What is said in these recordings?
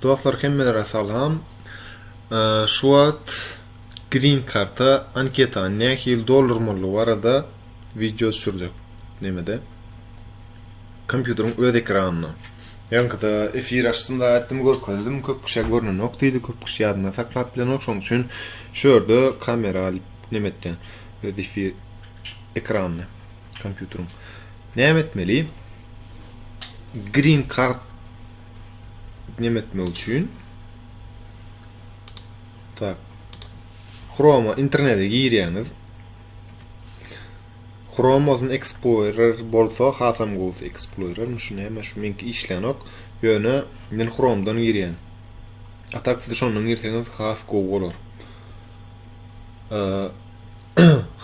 Dostlar hemmelere salam. Şu wagt green karta anketany nähili doldurmalydygy barada wideo düşürjek. Nämede? Kompýuteriň öz ekranynda. Ýaňkyda efir açdymda aýtdym görkezdim, köp kişä görnenok diýdi, köp kişi ýadynda saklap bilenok, şonuň üçin şu ýerde kamera alyp neme etýän. Öz efir ekranyny kompýuteriň. Näme etmeli? green card neme etmek üçin tak Chrome internete girýäňiz Chrome bolsun Explorer bolsa hasam gowy Explorer şu näme şu menki işlänok ýöne men Chrome'dan girýän a tak siz şondan girseňiz has gowy bolar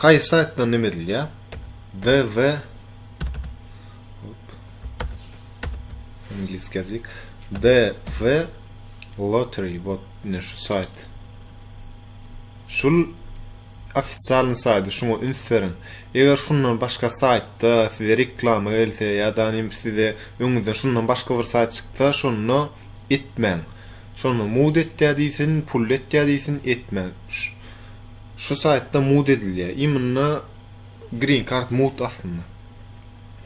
haýsy saýtdan neme edilýär ww Angliski ýazyk. DV Lottery bot ne şu sayt. Şul ofitsialny saýdy, şuňa üns beriň. Eger şundan başga saýtda size reklama gelse ýa-da size öňüňizden şundan başga bir saýt çyksa, şonda etmäň. Şonda mud etýä diýsin, pul etýä diýsin, etmäň. Şu saýtda mud edilýär. Imенно Green kart mugt aslynda.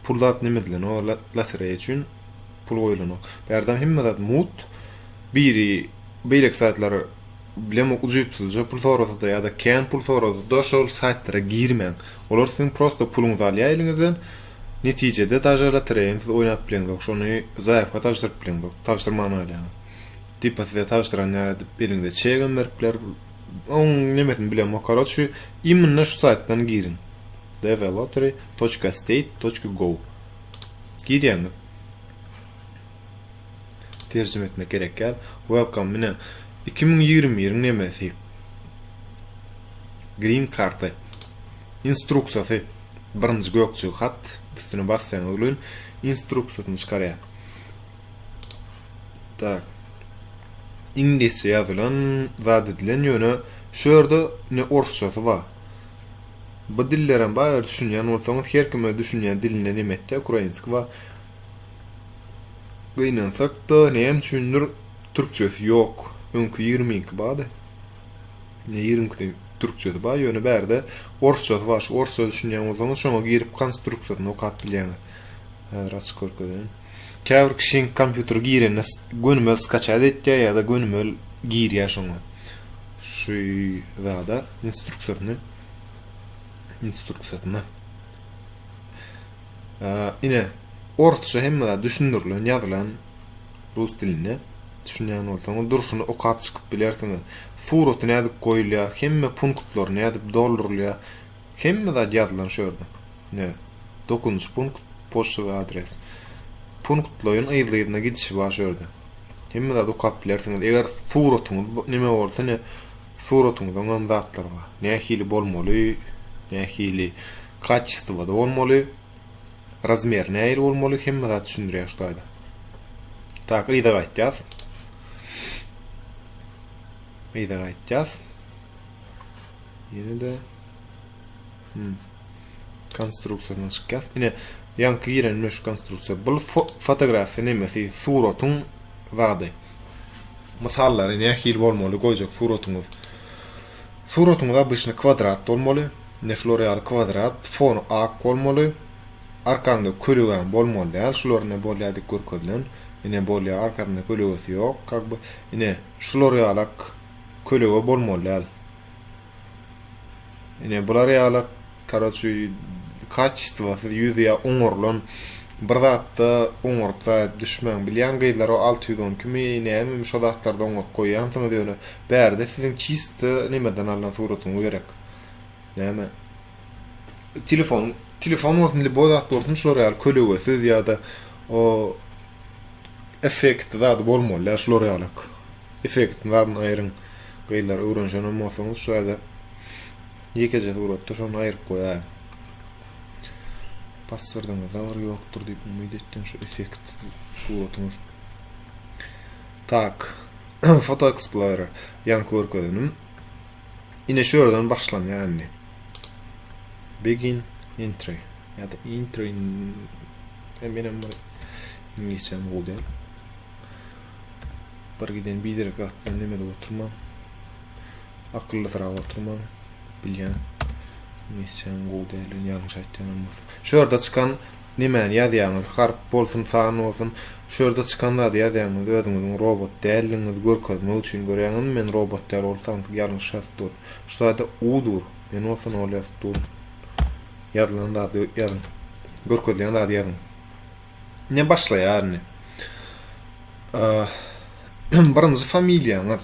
Pul zat neme edilen o lotereýa üçin pul goýulanok. Bärde hemme zat mugt. Biri beýleki saýtlar bilen ujypsyzja pul sorasada ýa-da kän pul sorasada şol saýtlara girmäň. Olar siziň prosta puluňyzy alýar eliňizden. Netijede daže lotereýany siz oýnap bileňzok. Şony zaýawka tabşyryp bileňzok. Tabşyrman galýaňyz. Tipa size tabşyran ýaly edip eliňize çegem berip biler. Oň nemesini bilemok karoç şu immnna şu saýtdan giriň dvlottery toçka state toçka gov girýäňiz terjime etmek gerek däl welcome mine iki müň ýigrimi biriň nemesi green karty instruksiýasy birinji gökjügi hat üstüne bassaňyz gülün instruksiýasyny çykarýar Tak. Iňlisçe ýazylan zat edilen ýöne şu ýerde ne orsçasy ba. Bu dillerem ba eger düşünýän bolsaňyz her kim öz düşünýän dilinde neme etde ukrainski ba. Gynansak da näme üçindir türkçesi ýok. Öňki ýigrimi iki bady. Ne ýigrimi ikisi türkçesi ba ýöne bärde orsçasy ba şu orsça düşünýän bolsaňyz şoňa girip konstruksiýasyny okap bilýäňiz. Häzir açyk görkezeýin. Käbir kişiň kompýuter girende gönümel skaçat etýär ýada gönümel girýär şoňa şu zada instruksyýasyny instruksyýasyny ine orsça hemme zat düşündirilen ýazylan rus dilinde düşünýän bolsaňyz durşuny okap çykyp bilersiňiz suraty nädip goýulýar hemme punktlary nädip doldurylýar Hemme zat ýazylan şu ýerde. Ine, Dokuzynjy punkt, poçtawy adres. Punktlaýyn yzly-yzyna gidişi bar şu ýerde. Hemme zady okap bilersiňiz. Eger suratyňyz neme bolsa, ine, suratyňyzyňam zatlary bar. Nähili bolmaly, nähili kaçestwada bolmaly, razmeri nähili bolmaly, hemme zat düşündirýär şu taýda. Tak, yza gaýtýas. Yza gaýtýas. Ýene de hmm. konstruksiýadan çykýas. Ine, ýaňky giren meniň şu konstruksiýa. Bu fotografiýa nemesi, suratyň zady. Mysallary nähili bolmaly goýjak suratyňyz. Suratyňyz obýşny kwadrat bolmaly. Ine şular ýaly kwadrat, fon ak bolmaly. Arkaňda kölegäň bolmaly däl. Şular ine bolýar dik görkezilen. Ine bolýar, arkasynda kölegesi ýok. Kak bu. Ine şular ýalak. kölege bolmaly däl. Ine bular ýaly karoçi kaçistwasyz ýüz ýa oňarylan bir zatda oňaryp zaýat düşmäň. Bilýän gyzlar o alty ýüz on iki mi nämemi şo zatlarda oňaryp goýýansyňyz ýöne bärde siziň çisto nimeden alnan suratyňyz gerek. Näme telefon telefon bolsun liboý zat bolsun şular ýaly kölegesiz ýa-da o effektli zady bolmaly däl şular ýalak. Effektiň zadyny aýryň gyzlar öwrenşenem bolsaňyz şu ýerde ýekeje suratda şony aýryp goýaýyň. Passwordymyzda bir ýokdur diýip umyt etdim şu effekt suratymyz. Tak. Foto Explorer ýaňky görkezenim. Ine şu ýerden başlanýar indi. Begin entry ya da entry e, menem bir ingilisçäm gowy däl. Bir giden biderek zat bilen neme edip oturmaň. Akyllysyrap oturmaň. Bilýän. Nesçäniň gowy däldigini ýalňyş aýtýanam bolsa. Şu ýerde çykan nemäni ýazýaňyz? Harp bolsun, san bolsun. Şu ýerde çykan zady ýazýaňyz, özüňiziň robot däldigiňizi görkezmek üçin. Görýäňizmi, men robot däl, ol tansyk ýalňyş ýazyp dur. Şu zada u dur. Men bolsa nol ýazyp durun. Ýazylan zady ýazyň. Görkezýän zady ýazyň. Ne başlaýarny? Birinji familiýaňyz.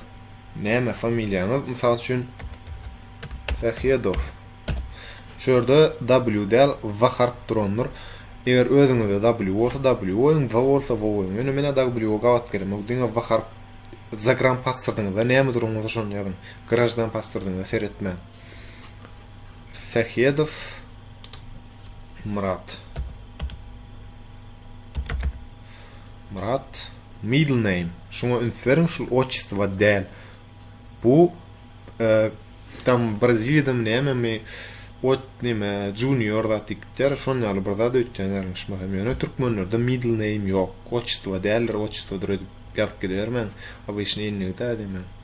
Näme familiýaňyz? Mysal üçin Sahedow. Şu ýerde W däl, W harp durandyr. Eger özüňizde W bolsa W goýuň, W bolsa W goýuň. Ýöne men W gabat gelemok. Diňe W harp zagram paswordynda näme duranyňyzy şony ýazyň. Grajdan paswordynda seretmäň. Sähedow Myrat. Myrat middle name. Şuňa üns beriň, şul otçestwa däl. Bu e, tam Braziliýadam nämemi ot näme junior zat diýip gitýär. Şon ýaly bir zat öýtýän ýalňyşmasam. Ýöne türkmenlerde middle name ýok. Otçestwa däldir, otçestwadyr edip ýazyp gidibermäň. Obýşny indigde diýmän.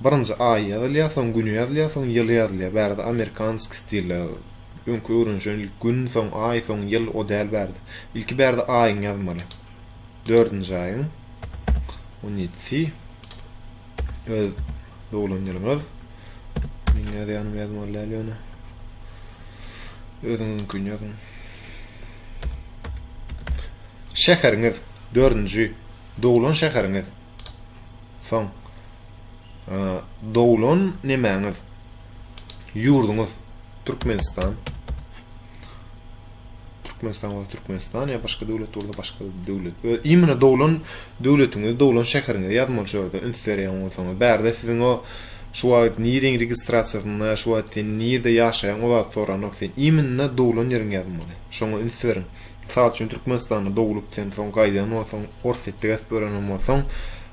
Birinji aý ýazylýar, soň güni ýazylýar, soň ýyly ýazylýar. Bärde amerikanskiý stilde. Öňki öwrenişen ilki gün, soň aý, soň ýyl, o däl bärde. Ilki bärde aýyňy ýazmaly. Dördünji aýyň on ýedisi öz doglan ýylyňyz. Meniň ýazýanymy ýazmaly däl ýöne. Özüňiziňkini ýazyň. Şäheriňiz, dördünji doglan şäheriňiz. Soň doglan nemäňiz? Ýurduňyz Türkmenistan. Türkmenistan bolsa Türkmenistan ýa başga döwlet bolsa başga döwlet. Öz imine doglan döwletiňizi, doglan şäheriňizi ýazmaly şu ýerde üns berýän bolsaňyz. Bärde siziň o şu wagt niriň registrasiýasynda, şu wagt sen nirde ýaşaýaň o zat soranok. Sen imine doglan ýeriňi ýazmaly. Şoňa üns beriň. Mysal üçin, Türkmenistanda doglup sen soň gaýdan bolsaň, Orsýetde gezip görenen bolsaň,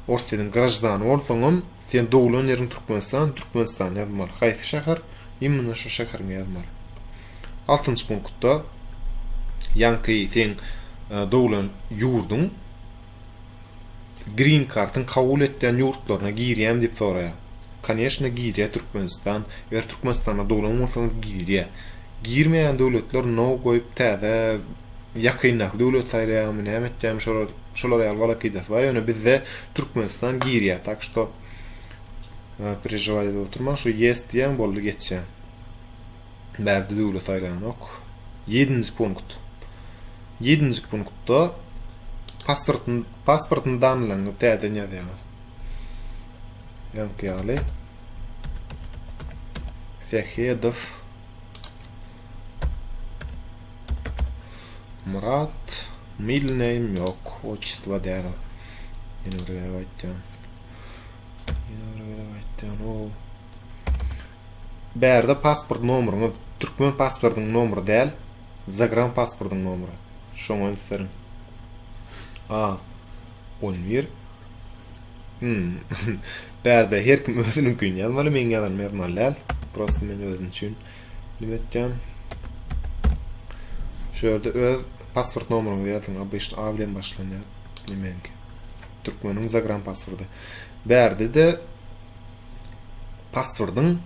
Orsýetiň graždany bolsaňam, sen doglan ýeriň Türkmenistan, Türkmenistan ýazmaly. Haýsy şäher, imminno şo şäheriňi ýazmaly. Altynjy punktda, ýaňky seň doglan ýurduň, Green kartyň kabul etýän ýurtlaryna girýämi diýip soraýar. Koneşne girýä Türkmenistan, eger Türkmenistanda doglan bolsaňyz girýä. Girmeýän döwletler no goýup täze ýakyndaky döwlet saýlaýamy näme etýämi şolar şolar ýaly galakydasy bar ýöne bizde Türkmenistan girýä tak şto perežiwat edip oturmaň şu ýes diýýäň boldy geçýä. Bäh, düzüwli saýlanok. Ýedinji punkt. Ýedinji punktda pasportyny pasportyny danlaryňyzy täzeden ýazýaňyz. Öňki ýaly. Sehedow. Murat. Middle name ýok. Otçytwa däl o. Ýene bir gezek aýtýan. Ýene bir gezek aýtýan o. Bärde pasport nomuryňyz türkmen pasportynyň nomury däl, zagran pasportynyň nomury. Şoňa ünstleriň. A. On bir. Hum. Bärde her kim özüniňkini ýazmaly, meň ýazanymy ýazmaly däl. Prosta men özüm üçin nime etýän. Şu ýerde öz pasport nomuryňyzy ýazyň. Obýşt A bilen başlanýar. Meňki. Türkmeniň zagran pasporty. Bärde-de pasportyň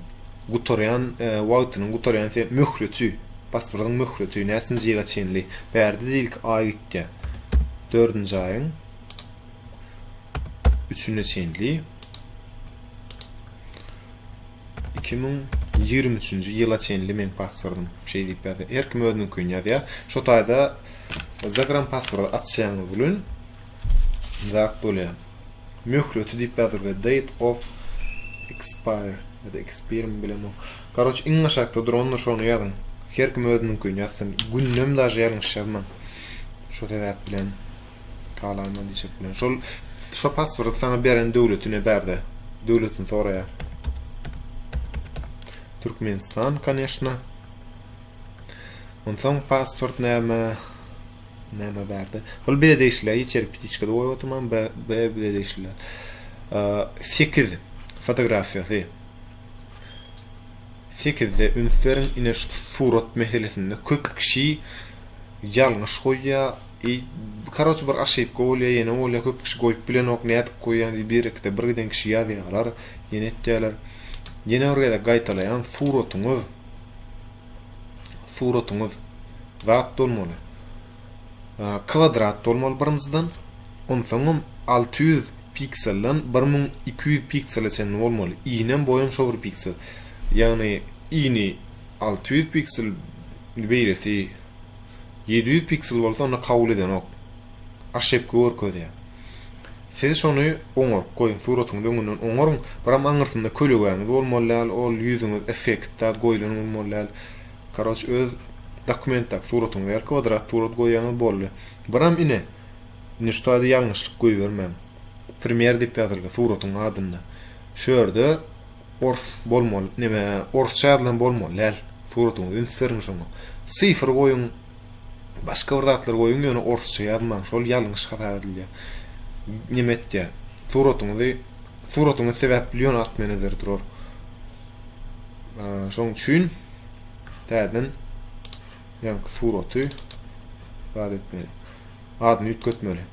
gutarýan wagtynyň gutarýan möhleti, pasportyň möhleti näçinji ýyla çenli bärde diýilk aý gitýär. Dördünji aýyň üçüne çenli 2023-nji ýyla çenli men pasportym şey diýip ýazýar. Her kim özüniňkini ýazýar. Şu taýda Instagram pasporty açýaňyz bilen zat bolýar. möhleti diýip ýazyr we date of expire ya da expire mi bilemok garoç iň aşakda durandyr şony ýazyň her kim özüniňkini ýazsyn günnem daže ýalňyş ýazmaň şo sebäp bilen kalaýma diýjek bilen şol şo passwordy saňa beren döwletine bärde döwletini soraýar Türkmenistan конечно onsoň password näme Näme bardy? Hol bize degişliler içerik pitiçkada goýup oturman B B bize degişliler. Sekiz fotografiýasy. Sekizde üns beriň, ine şu surat meselesinde köp kişi ýalňyş goýýar. E, karoç bir aşypka bolýar, ýene bolýar, köp kişi goýup bilenok, nädip goýýan diýip bir ikide bir giden kişi ýazýarlar, ýene etýärler. Ýene bir gezek gaýtalaýan suratyňyz. suratyňyz zat bolmaly. Kwadrat bolmaly birinjiden. Onsoňam alty ýüz pikselden bir müň iki ýüz piksele çenli bolmaly. Iýnem boýam şo bir piksel. Ýagny iýni alty ýüz piksel beýlesi ýedi ýüz piksel bolsa onda kabul edenok. Aşepka görkezýär. Siz şony oňaryp goýuň, suratyňyzy öňünden oňaryň, biram aňyrsynda kölegäňiz bolmaly däl, ol ýüzüňiz effektda goýlan bolmaly däl. Karoç öz dokumentdaky suratyňyzy ýaly kwadrat surat goýaňyz boldy. Biram ine, indi şu taýda ýalňyşlyk goýbermäň. Primer diýip ýazylgy suratyň adynda. Şu ýerde ors bolmaly, neme, orsça ýazylan bolmaly däl. Suratyňyzy üns beriň şoňa. Sifr goýuň. Başga bir zatlar goýuň ýöne orsça ýazmaň şol ýalňyş hasap edilýär. Neme etýär. Suratyňyzy suratyňyz sebäpli ýöne at menejer durar. Şoň üçin täzeden ýa suraty zat etmeli. Adyny üýtgetmeli.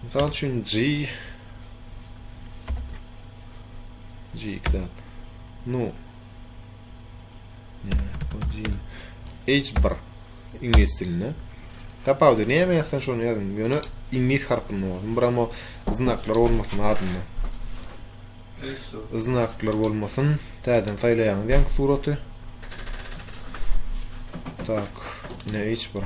Mysal üçin G G-dan. Nu H bir iňlis dilinde. Tapawudy näme ýazsan şony ýazyň. Ýöne iňlis harpynda bolsun. Biram o znaklar bolmasyn adynda. Znaklar bolmasyn. Täzeden saýlaýaňyz ýaňky suraty. Tak, ne H bir.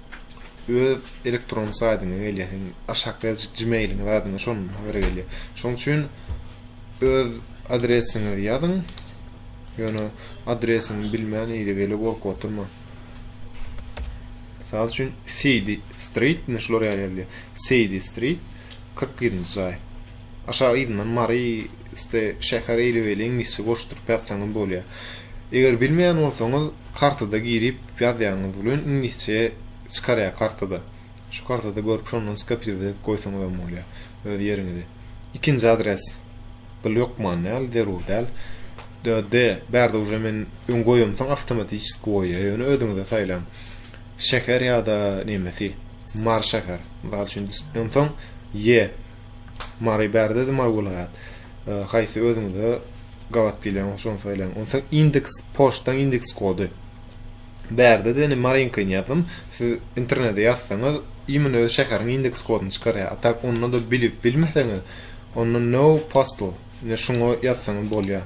öz elektron saýdyňa gelýär. Sen aşakda ýazyjyk Gmail-iňiz adyna şonuň habary gelýär. Şonuň üçin öz adresiňizi ýazyň. Ýöne adresiňi bilmän ile-bile gorkup oturma. Mysal üçin City Street, ne şular ýaly ýazýar. City Street 41-nji jaý. Aşak yzyndan Mary iste şäher eýle beýle iňlisçe goşduryp ýazsaňyz bolýar. Eger bilmeýän bolsaňyz kartada girip ýazýanyňyz bilen iňlisçe çykarýar kartada. Şu kartada görüp şondan skopirowat edip goýsaňyzam bolýar öz ýeriňizi. Ikinji adres gyl ýokman däl zerur däl. DD bärde uje men öň goýamsoň awtomatiçeski goýýar ýöne özüňize saýlaň. Şäher ýada nemesi Mary şäher mysal üçin onsoň Y Mary bärde-de Mary welaýat. Haýsy özüňize gabat gelýän bolsa şony saýlaň. Onsoň indeks poçtaň indeks kody. Bärde-de indi Maryňkyny ýazdym. Siz internete ýazsaňyz, imенно öz şäheriň indeks kodyny çykarýar. A tak onda-da bilip bilmeseňiz, onda no postal. Indi şuňa ýazsaňyz bolýar.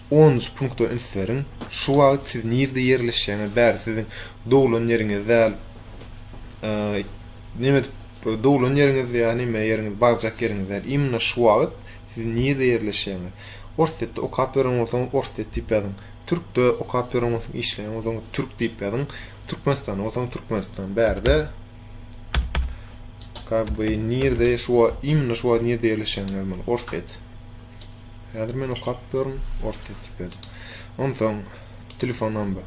Onunjy punkta üns beriň, Şu wagt siz nirde ýerleşýäňiz däl, siziň doglan ýeriňiz däl, neme edip, doglan ýeriňiz ýa neme ýeriňiz, barjak ýeriňiz däl, imенно şu wagt siz nirde ýerleşýäňiz. Orsýetde okap ýören bolsaňyz, Orsýet diýip ýazyň. Türkde okap ýören bolsaňyz, işleýän bolsaňyz, Türk diýip ýazyň. Türkmenistanda bolsaňyz, Türkmenistan. Bärde kak by nirde şu wagt, imенно şu wagt nirde ýerleşýäňizi ýazmaly, Orsýet. Häzir men okap görün, ors sesli pes. Onsoň telefon nomber.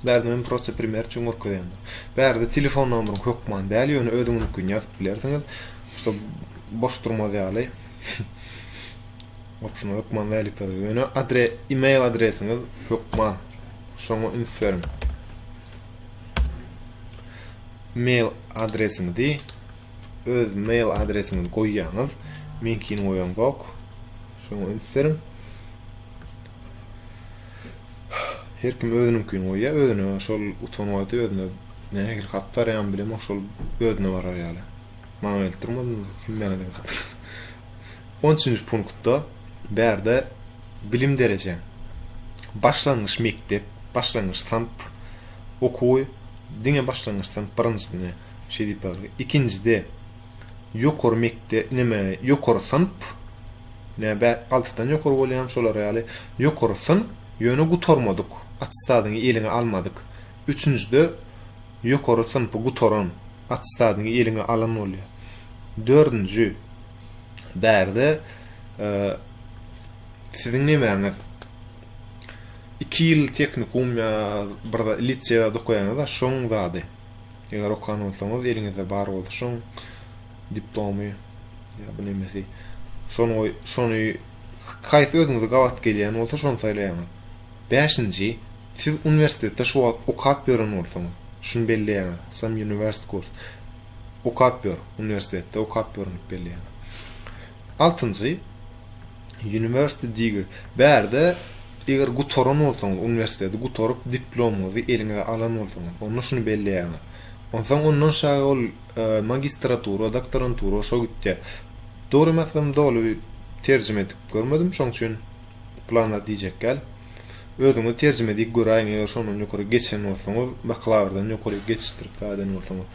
Bärde men prosta primer üçin görkezýän. Bärde telefon nomeriň hökman däl, ýöne özüňiziňkini ýazyp bilersiňiz. Şo boş durmaz ýaly. Opşyny hökman däl ýazyp, ýöne adre, e-mail adresiňiz hökman. Şoňa üns beriň. Mail adresiňizi öz mail adresiňizi goýýaňyz. Meňkini goýamzok. Şoňa üns beriň. Her kim özüniňkini goýýar, özüne şol utanywady özüne nähili hat barýan bilemok şol özüne barar ýaly. Maňa gelip durmadyňyz, kim maňa gelip hat. 13-nji punktda bärde bilim dereje. Başlangyç mekdep, başlangyç synp okuwy diňe başlangyç synp birinjisini Şeýdip bar. Ikinjide ýokary mekdep, neme, ýokary synp, nä bä, altydan ýokary bolýamy şolar ýaly, ýokary synp, ýöne gutarmadyk, attestadyňy eliňe almadyk. Üçünjide ýokary synpy gutaran, attestadyňy eliňe alan bolýar. Dördünji, bärde siziň nemäňiz, iki ýyl tehnikum ýa bir zat, lise zat okaýaňyz-a, şoň zady. Eger okan bolsaňyz, eliňizde bar bolsa şoň diplomy ýa bu nemesi, şony şony haýsy özüňize gabat gelýän bolsa şony saýlaýaňyz. Bäşinji, siz uniwersitetde şu wagt okap ýören bolsaňyz, şuny belleýäňiz, some university course. Okap ýör, uniwersitetde okap ýörün diýip belleýäňiz. Altynjy, University degree, bärde eger gutaran bolsaňyz, uniwersiteti gutaryp, diplomyňyzy eliňize alan bolsaňyz, onda şuny belleýärler. Onsoň ondan şaýy ol magistratura, doktorantura şo gitýär. Dogry meselem doly terjime edip görmedim, şoň üçin planlar diýjekgäl. Özüňiz terjime edip göräýiň, eger şondan ýokary geçen bolsaňyz, bakalawrdan ýokary geçişdirip gaýdan bolsaňyz.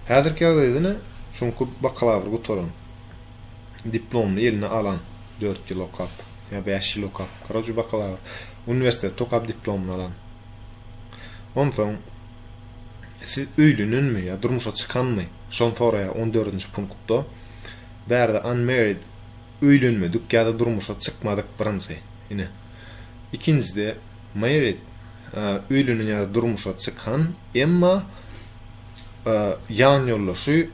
Häzirki ýagdaýda ine, şoňky bakalawry gutaran. diplomyny eline alan, dört ýyl okap, ýa bäş ýyl okap, koroje bakalawr, uniwersitetde okap diplomyny alan. Onsoň siz öýlenenmi ýa durmuşa çykanmy? Şony soraýar on dördünji punktda. Bärde unmarried öýlenmedik ýa-da durmuşa çykmadyk birinji. Ine. Ikinjide married öýlenen ýa-da durmuşa çykan, emma ýanýoldaşy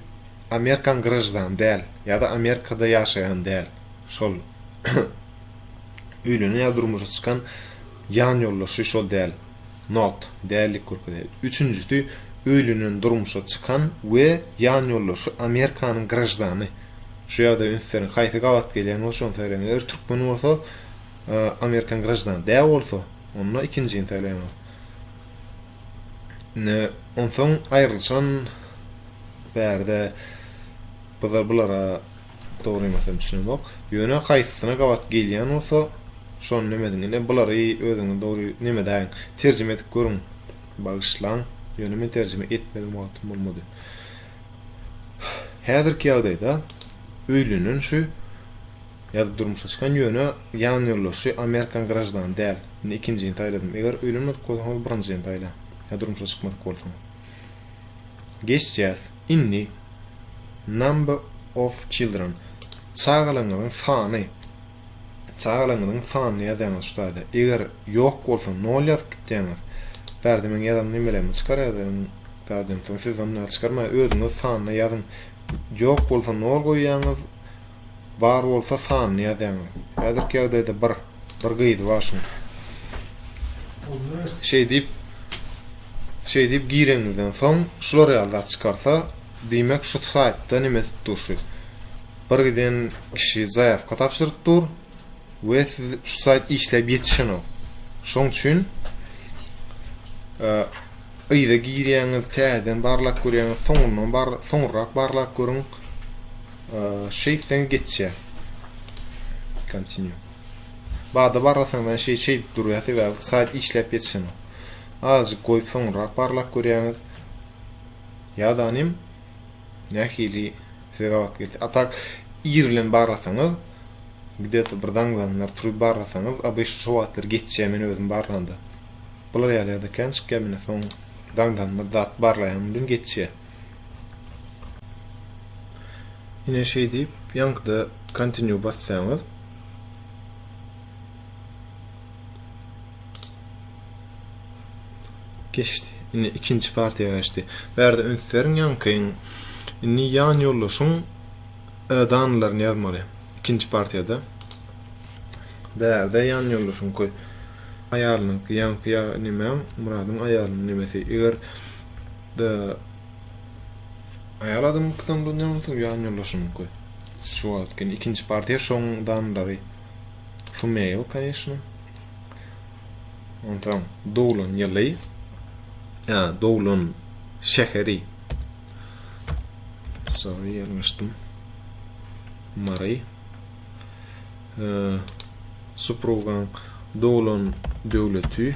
Amerikan graždany däl ýa-da Amerikada ýaşaýan däl, şol öýlenen ýa durmuşa çykan ýan ýoldaşy şol däl, not, dällik görkezýär. Üçünjisi, öýlenen, durmuşa çykan we ýan ýoldaşy Amerikanyň graždany. Şu ýagdaýa üns beriň, haýsy gabat gelýän bolsa şony söyleýin. Eger türkmen bolsa, Amerikan graždany däl bolsa, onda ikinjini söyleýän. Indi onsoň aýrylyşan bärde bizler bulara dogry ýa-da düşünemok. Ýöne haýsysyna gabat gelýän bolsa, şony neme ediň. Indi bulary özüňiz dogry neme edäýiň. Terjime edip görüň. Bagyşlaň, ýöne men terjime etmedim wagtym bolmady. Häzirki ýagdaýda öýlenen şu Ýa-da durmuşa çykan ýöne ýan ýoldaşy Amerikan graždany däl. Indi ikinjini saýladym. Eger öýlenmedik bolsaňyz birinjini saýlaň. Ýa durmuşa çykmadyk bolsaň. Geçýäs. Inni. Number of children. Çagalaňyzyň sany. Çagalaňyzyň sanyny ýazýaňyz şu taýda. Eger ýok bolsa nol ýazyp gitýäňiz. Bärde meň ýazan nimelerimi çykar ýazan zadyň soň siz ondan çykarmaň özüňiz sanyny ýazyň. Ýok bolsa nol goýýaňyz. Bar bolsa sanyny ýazýaň. Häzirki ýagdaýda bir bir gyzy bar şuň. Şeý diýip Şeý diýip gireňizden soň şular ýaly zat çykarsa, diýmek şu saýtda neme edip dur şu. Bir giden kişi zaýawka tabşyryp dur we siz şu saýt işläp ýetişenok. Şoň üçin yza girýäňiz, täzeden barlap görýäňiz, soňundan bar, soňurrak barlap görüň. Şeýt sen geçýä. Continue. Bada barlasaň men şeý şeý durýar sebäbi saýt işläp geçişini. Azajyk goýup soňra barlap görýäňiz. Ýadanym nähili size gabat geldi. A tak ir bilen barlasaňyz gde-to bir zaňlanlar turup barlasaňyz abyş şo wagtlar geçýä men özüm barlanda. Bular ýaly ýa-da kän çykýa mine soň zaňlanma zat barlaýan bilen geçýä. Ine şeý diýip, ýaňkyda Continue bassaňyz, geçdi. Indi ikinji partiýa geçdi. Bärde üns beriň ýaňkyň. Indi ýan ýoldaşyň danalaryny ýazmaly. Ikinji partiýada. Bärde ýan ýoldaşyň köý. Aýalynyňky ýaňky ýa nimäň, Muradyň aýalynyň nemesi. Eger Da Aýal adamyňkydan ulanýarmyň soň ýan ýoldaşyňky şu wagt gene ikinji partiýa şoň danlary fmail kanyşna onsoň doglan ýyly ýa doglan şäheri sorry ýalňyşdym mary suprugaň doglan döwleti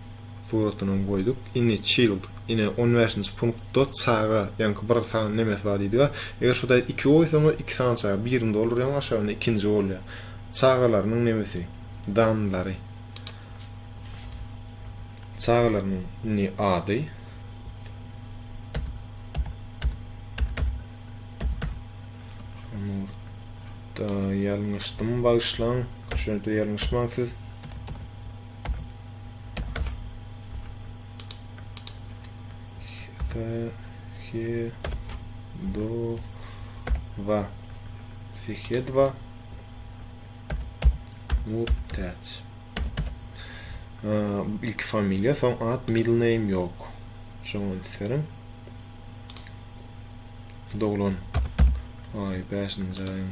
Suratyny goýduk. Ini child. Ine on bäşinji punktda çaga ýaňky bir sany nemes bar diýdiga. Eger şu taýda iki goýsaňyz iki sany çaga. Birini doldurýaňyz aşagynda ikinji bolýar. Çagalarynyň nemesi. Danlary. Çagalarynyň ini ady. Nurda ýalňyşdym bagyşlaň. Şonda ýalňyşmaň siz. Sehedova Sehedova Murtaç ilk familiýa, soň at, middle name ýok. Şoňa isterim. Doglan. Ay, 5-nji aýyň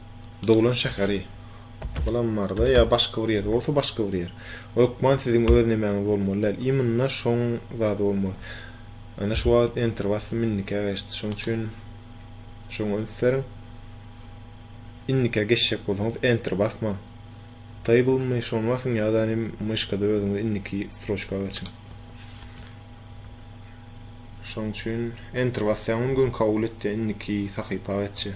Doglan şäheri. Bulam barda ýa başga bir ýer bolsa başga bir ýer. Hökman siziň öz nemäňiz bolmaly däl. Imynda şoň zady bolmaly. Ana şu wagt enter basdym indikä geçdi. Şoň üçin şoňa üns beriň. Indikä geçjek bolsaňyz enter basmaň. Table my şony basyň ýa-da nim myşkada özüňiz indiki stroçka geçiň. Şoň üçin enter basýaň gün kabul etdi indiki sahypa geçdi.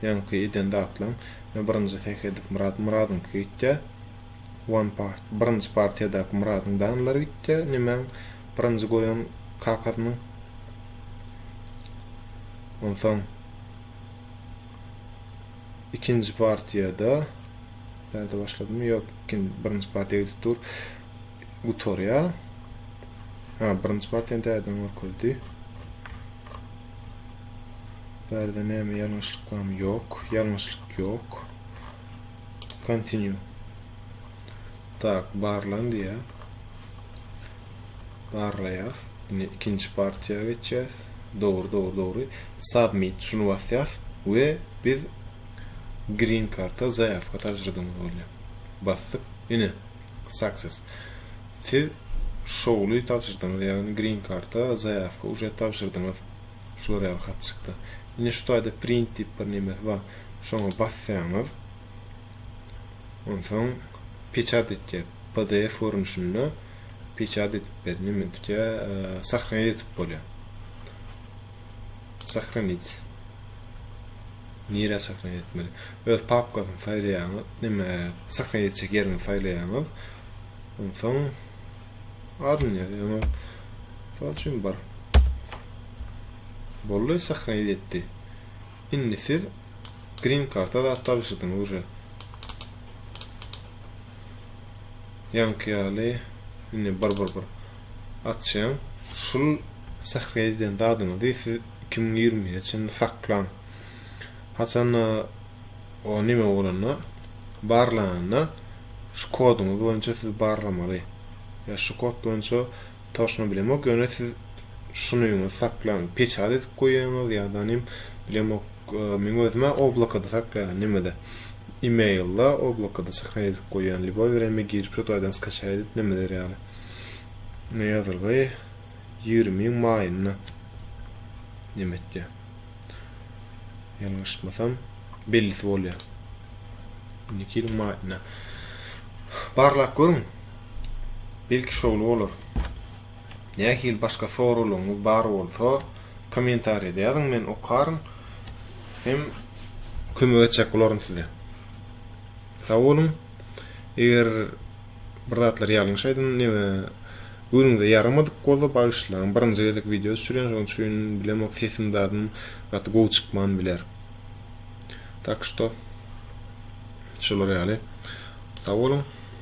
Ýaňky eden zatlaň me birinji seh edip myrat myradyňky gitýä one part birinji partiýadaky myradyň danlary gitýä nimäň birinji goýan kakasynyň onsoň ikinji partiýada bärde başladymy ýok birinji partiýa gidip dur gutarýa ha birinji partiýany täzeden görkezdi Bärde näme ýalňyşlyk barmy? Ýok, ýalňyşlyk ýok. Continue. Tak, barlan diýýär. Barlaýas. Indi ikinji partiýa geçýäs. Dogry, dogry, dogry. Submit şuny basýas we biz green karta zaýawka tabşyrdygymyz bolýar. Basdyk. Ine, Success. Siz şowly tabşyrdyňyz, ýagny Green Card-a zaýawka uje tabşyrdyňyz. Şular ýaly hat çykdy. Ine şu taýda Print diýip bir nemesi bar. Şoňa basýaňyz. Onsoň peçat et diýýär. Pdf görnüşinde peçat edip ber, neme tutýar, Sahna edip bolýar. Sahranit. Nirä sahran etmeli? Öz papkasyny saýlaýaňyz, neme sahran etjek ýeriňizi saýlaýaňyz. Onsoň adyny ýazýaňyz. Mysal üçin bir. Boldy, sahran etdi. Indi siz green karta zat tabşyrdyňyz uje. Ýaňky ýaly indi bir bir bir açýan şul sährä edýän zadyňyzy siz iki müň ýigrimi nji çenli saklaň haçanda o nime bolanda barlananda şu koduňyz boýunça siz barlamaly ýa şu kod boýunça toşna bilemok ýöne siz şuny öňüňizi saklaň peçat edip goýýaňyz ýadanim bilemok meň özüme oblakada saklaýan nimede emailda oblakada sährä edip goýýan liboý bir eme girip şu taýdan skaçaýa edip nimeler ýaly. Noýabrda ýigrimiň maýynda nem etýär? Ýalňyşmasam, bellisi bolýar. Indiki ýylyň maýynda. Barlap görüň. Belki şowly bolar. Nähili başga soraglaryňyz bar bolsa, kommentariýada ýazyň, men okaryn hem kömek etjek bolaryn size. Sag boluň. Eger Bir zatlar ýalňyş aýdym neme göwnüňize ýaramadyk bolsa bagyşlaň birinji gezek wideo düşürýän şoň üçin bilemok sesim zadym gaty gowy çykman biler tak şto şolar ýaly sag boluň.